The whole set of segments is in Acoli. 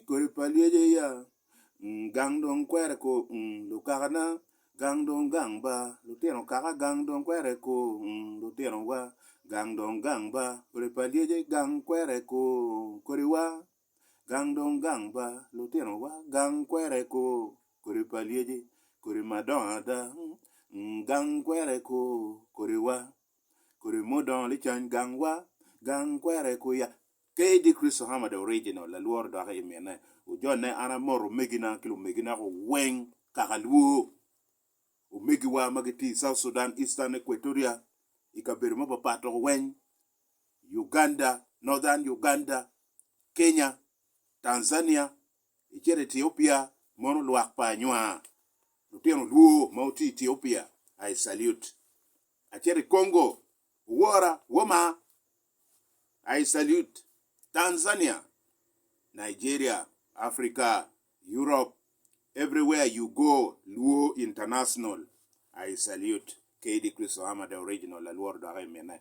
Kodi pa lyeci aye gang dong kwero eko lukakana gang dong gang ba lutino kaka gang dong kwero eko lutinowa gang dong gang ba kodi pa lyeci gang kwero eko kodiwa gang dong gang ba lutinowa gang kwero eko kodi pa lyeci kodi madongo ada gang kwero eko kodiwa. Kodi mudongo licony gang wa gang kwere kwiya KD Christo Hammer the original lalworo doki i mine ojone an amoto omegina ki lumegina ko weng kaka luo omegi wa ma gitye i South Sudan Eastern Equatoria i kabedo ma papat to weng Uganda Northern Uganda Kenya Tanzania i cito Ethiopia mono lwak pa anywa lutino luo ma wutye i Ethiopia I salute. acito i Congo, Wora, Woma, I salute, Tanzania, Nigeria, Africa, Europe, everywhere you go, Luo international, I salute, KD Christo Hama the original alworo dok aye mine.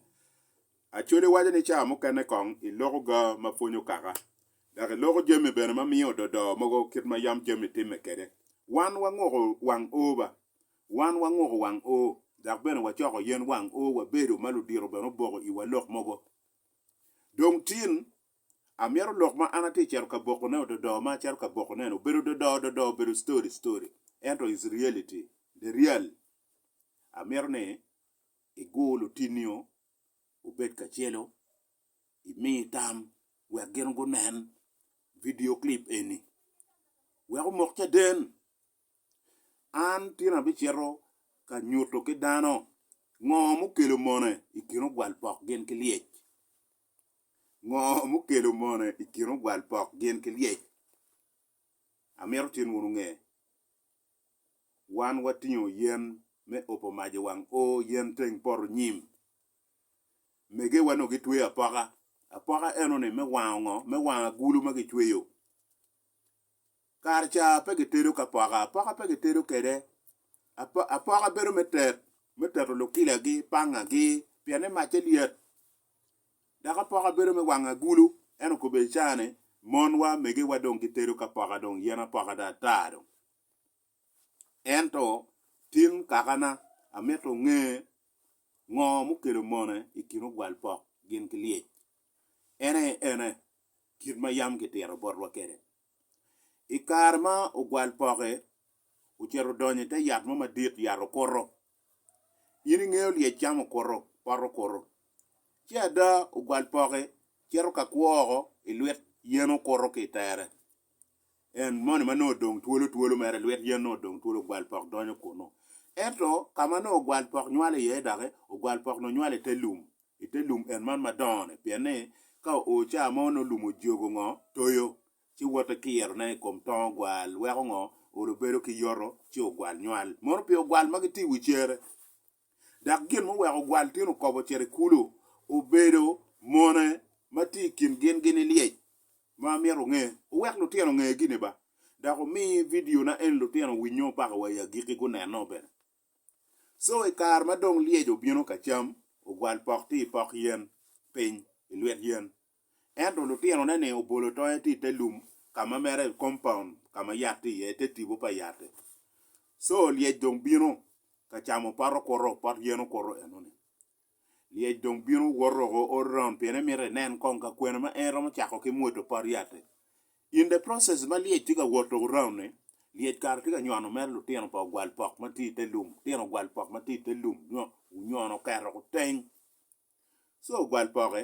Acholi waco ni cawa mukene kong iloko ga ma pwonyo kaka, dok iloko jami bene ma miyo ododo mogo kit ma yam jami timme kede. Wan wanguko wang oba, Wan wangoko wang oo, dok bene wacoko yen wang oo wabedo ma ludito bene oboko iwa lok mogo. Dong tin, amyero lok ma an atye cito ka bokone ododoo ma acito ka bokoneno obed ododoo ododoo obedo story story ento is reality the real amyero ni igur lutinio obed kacelo imi tam wek gin gunen video clip eni wek omok caden An tyen abicito ka nyuto ki dano ngo mukelo mone i kin ogwal pok gin ki lyec. Ngo mukelo mone i kin ogwal pok gin ki lyec? Amito tin wun wunge. Wan watingo yen me opo mac i wang o, yen teng poto nyim. Megewa nongo gitweyo apoka, apoka eno ni me wango ngo? Me wango agulu ma gicweyo. Kare ca pe gitedo ki apoka, apoka pe gitedo kwede. Apoka bedo me tet, me teto lukilagi, pangagi pienni macce lyet. Dok apoka bedo me wango agulu. En okobbe i caa ni monwa, megewa dong gitedo ki apoka dong, yen apoka dong ata dong. Ento tin kakana amito nge ngo mukelo mone i kin ogwalpok gin ki lyec. Ene ene kit ma yam kitito botwa kwede. I kare ma ogwal poke ocito odonyo i te yat mo madit, yat okuto. In ingeyo lyec cam okuto, pot okuto. Ci ada ogwal poke cito ka kwo woko i lwet yen okuto ki i tere, en moni ma nongo odong twolo twolo mere i lwet yen nongo odong twolo, ogwal pok donyo kunu. Ento ka ma nongo ogwal pok nywale iye doki, ogwal pok nongo nywale i te lum, i te lum en man madongo-ni, pien ni ka oo caa mo nongo lum ojogo ngo, toyo, ci woto kiro ne i kom tongo gwal, weko ngo, olo bedo ki yoto, ci ogwal nywal. Mono pi ogwal magi tye i wi cere. Dak gin ma oweko ogwal tin okobo cito i kulu, obedo mone ma tye i kin gin gini lyec ma amito onge. Owek lutino onge gini ba. Dak omi video na eni lutino winyo paka wa i agiki guneno bene. Co i kare ma dong lyec obino ka cam, ogwal pok ti i pok yen piny i lwet yen. Ento lutinone-ni obolo tonge ti i te lum ka ma mere kompaun ka ma yat tye iye, i te tipo pa yat-ti. Co lyec dong bino ka camo pot okuto, pot yen okuto eno-ni. Lyec dong bino woto oko ote round pien emito enen kong ka kwena ma en romo cako ki mwodo pot yat-te. In the process ma lyec tye ka wot oko round ni, lyec kare tye ka nyono mere lutino pa ogwal pok ma tye ite lum, lutino ogwal pok ma tye ite lum nyo onyono oketo kuteny. So ogwal poke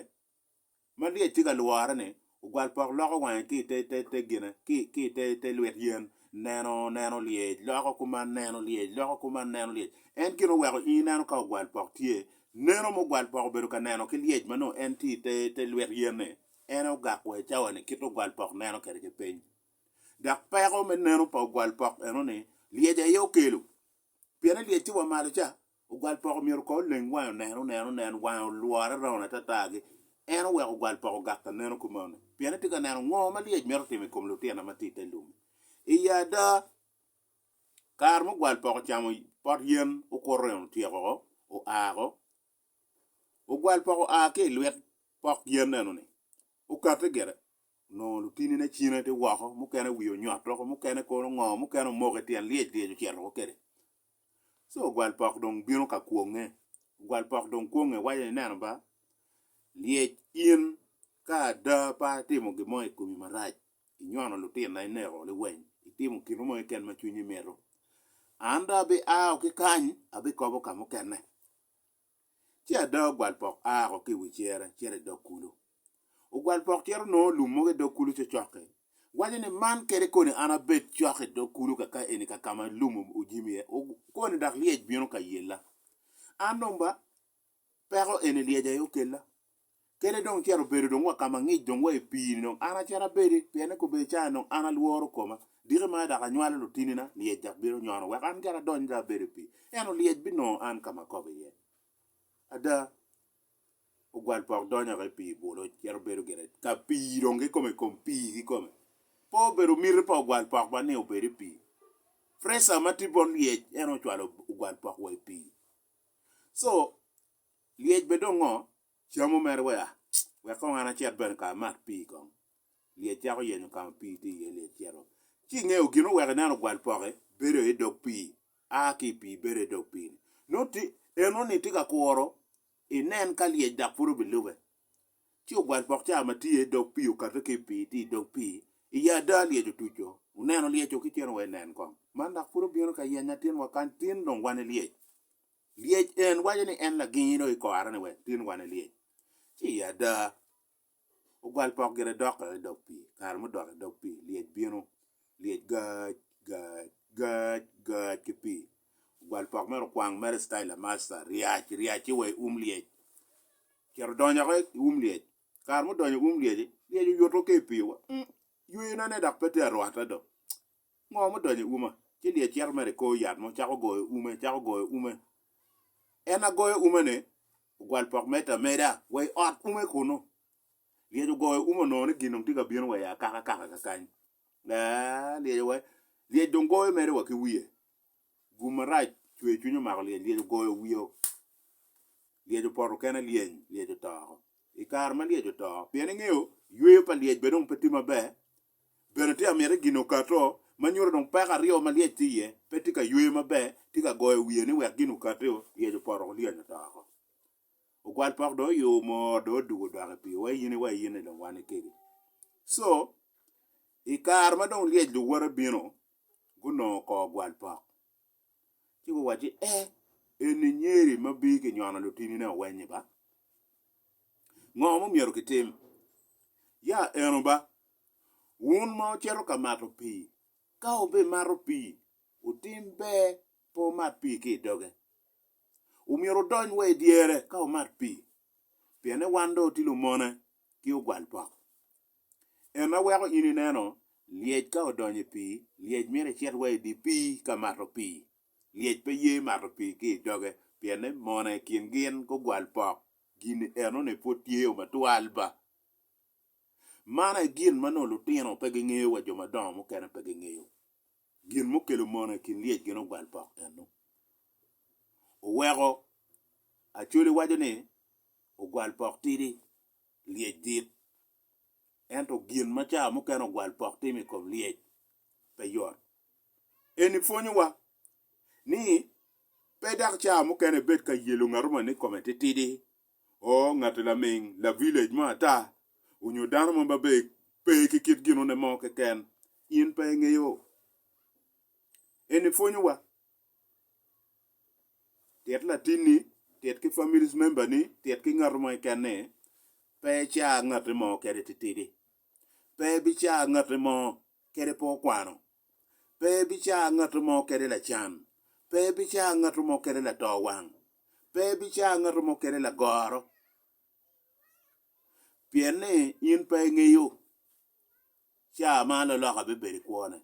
ma lyec tye ka lwore ni ogwal pok loko wange ki ite gine ki ite lwit yen neno neno lyec loko kuman neno lyec loko kuman neno lyec en gin oweko in ineno ka ogwal pok tye neno ma ogwal pok obedo ka neno ki lyec ma nongo en tye ite lwit yen ni en aye ogak wa i cawa ni kit ogwal pok neno kwede ki piny dok peko me neno pa ogwal pok eno ni lyec aye okelo pien ni lyec tye wa malo ca. Ogwal poko myero ko oleng wange onen onen onen wange olwore raun atata gi en oweko ogwal poko ogak ka neno kumeno pien etye ka neno ngo ma lyec mito timo i kom lutino ma tye i te lum-mi. Iyi ada, kare ma ogwal poko ocamo pot yen okuto en otyeko woko oa woko, ogwal poko oa ki i lwet pok yen eno-ni okate gire onongo lutinine cine tye woko mukene wiye onyoto woko mukene kono ngo mukene omoko i tyen lyec lyec ocito woko kwede. Co ogwalpok dong bino ka kwonge, ogwalpok dong kwonge waco ni, 'Ineno ba, lyec in ka ada pe atimo gin mo i komi marac, inyono lutinna, ineko liweny, itimo gin mo keken ma cwinyi mito, an dong abia ao ki kany abikobo ka mukene. ci ada ogwalpok a woko ki i wi cere cito i dog kulu. Ogwalpok cito nongo lum mogo i dog kulu cocokke, waco ni, 'Man kede koni an abed cok i dog kulu kaka eni kaka ma lum ojimo iye, koni dok lyec bino ka yella. An dong ba, peko eni lyeca aye okella. Kene dong cito bedo dong wa ka ma ngic dong wa i pii-ni dong an acito abedi, pien ni kobedi caane dong an alworo koma, diki mere dok anywalo lutinina, lyec dok bino nyono wek an gira adony dok abedo i pii, ento lyec binongo an ka ma akobo iye. Ada, ogwal pok donyo woko i pii bwolo, cito bedo gire ka pii dong kikome i kom pii kikome. Pe obedo miti pa ogwal pok man ni obed i pii. Pressure ma tye bot lyec en ocwalo ogwal pok wa i pii. So, Lyec bene dong ngo camo mere wea wek kong an acit bene ka amat pii kong. Lyec cako yenyo ka ma pii tye iye lyec cito ci ingeyo gin oweko ineno ogwal poke bedo aye idog pii a ki i pii bedo aye idog pii ni nongo tye eno ni tye ka kuro inen ka lyec dok pud obilube ci ogwal pok ca ma tye idog pii okate ki i pii tye idog pii i ya ada lyec otuco oneno lyec o ki cen wa inen kong man dok pud obino ka yenya tinwa kany tin dong wan ilyec. Lyec en waco ni en lagingi dong i kora ni wek tin wane lyec ci i ada ogwal pok gire dokke i dog pii kare mudok i dog pii lyec bino lyec gac gac gac gac ki pii ogwal pok mere okwang mere cital lamasta ryac ryac ci wa i um lyec ocito donyo ki i um lyec kare mudonyo i um lyec-ci lyec oyuto ki i pii wa yweyo ne dok pe tye arwata dong Ngo mudonyo i uma? Ci lyec cito mere i kor yat mo cako goyo ume, cako goyo ume. En a goyo umene ogwal pok meter ameda wa i ot ume kunu. Lyec ogoyo ume onongo ni gin dong tye ka bino wa i akaka kaka kakany. Aa, lyec owaco, lyec dong goyo mere wa ki wiye. Gum marac cwer cwiny omako lyec, lyec ogoyo wiye o, lyec opoto kene lyeny, lyec oto oko. I kare ma lyec oto, pien ingeyo yweyo pa lyec bene dong pe tye maber, bene tye amyete gin okato ma nyuto dong peko aryo ma lyec tye iye pe tye ka yweyo maber, tye ka goyo wiye ni wek gin okati o, lyec opoto oko lyeny oto oko. Ogwal pok dong oyumo, dong odugo odok i pii, wa in, wa in-ni dong wan ni kegi. Co I kare ma dong lyec luwote bino, gunongo kor gwal pok, ci guwacci, E, eni nyeri ma bino ki nyono lutinine oweny-nyi ba? Ngo ma myero kitim? Ya eno ba, wun ma wucito ka mato pii, ka wubimato pii, wutim ber pe wumat pii ki i doge. Omyero wudony wa i dyere ka wumat pii, pienni wan dong watye lumone ki ogwal pok. En ma weko in ineno lyec ka odonyo i pii, lyec myero ecit wa i dye pii ka mato pii. Lyec pe ye mato pii ki i doge pien ni mona i kin gin gugwal pok. Gin eno ni pwod tye o matwal ba. Man aye gin ma nongo lutino pe gingeyo wa jo madongo mukene pe gingeyo. Gin mukelo mona i kin lyec gin ogwal pok eno. Oweko Acholi waco ni ogwal pok tidi. lyec dit. Ento gin ma ca mukene ogwal pok timo i kom lyec pe yot. Eni pwonyowa ni pe dok ca mukene ibed ka yelo ngat moni ni kome titidi, oo ngati laming, lavilej mo ata, onyo dano mo ma be pe ki kit ginone mo keken. In pe ingeyo. Eni pwonyowa Tit latinni, tit ki family member ni, tit ki ngat mo keken ni pe ica ngati mo kede titidi. Pe ibica ngati mo kede pe okwano. Pe ibica ngati mo kede lacan. Pe ibica ngati mo kede lato wang. Pe ibica ngati mo kede lagoro. Pien ni in pe ingeyo ca ma loloka bibedo i kwone.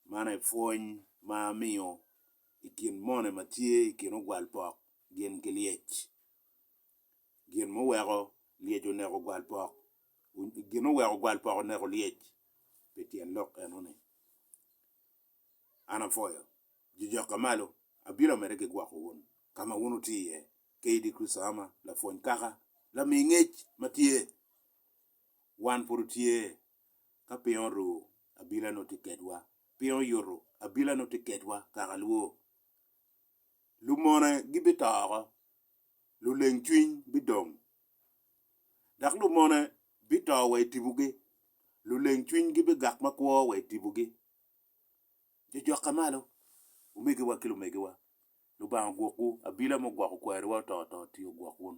Man aye pwony ma amiyo i kin moni ma tye i kin ogwal pok gin ki lyec gin muweko lyec oneko ogwal pok gin muweko ogwal pok oneko lyec pi tyen lok enoni an apwoyo jujoka malo abino mere ki gwoko wun ka ma wun wutye iye KD Christo Ama lapwony kaka lami ngec ma tye wan pud watye Ka piny oru, abila nongo tye kedwa. Piny oyutu, abila nongo tye kedwa kaka lwor. Lumone gibito oko, luleng cwiny bidong. Dok lumone bito wa i tibugi, luleng cwinygi bigak makwo wa i tibugi. Jujokke malo, omegiwa ki lumegiwa, Lubanga ogwokwu, abila mugwoko kwariwa ototo-ti ogwok wun.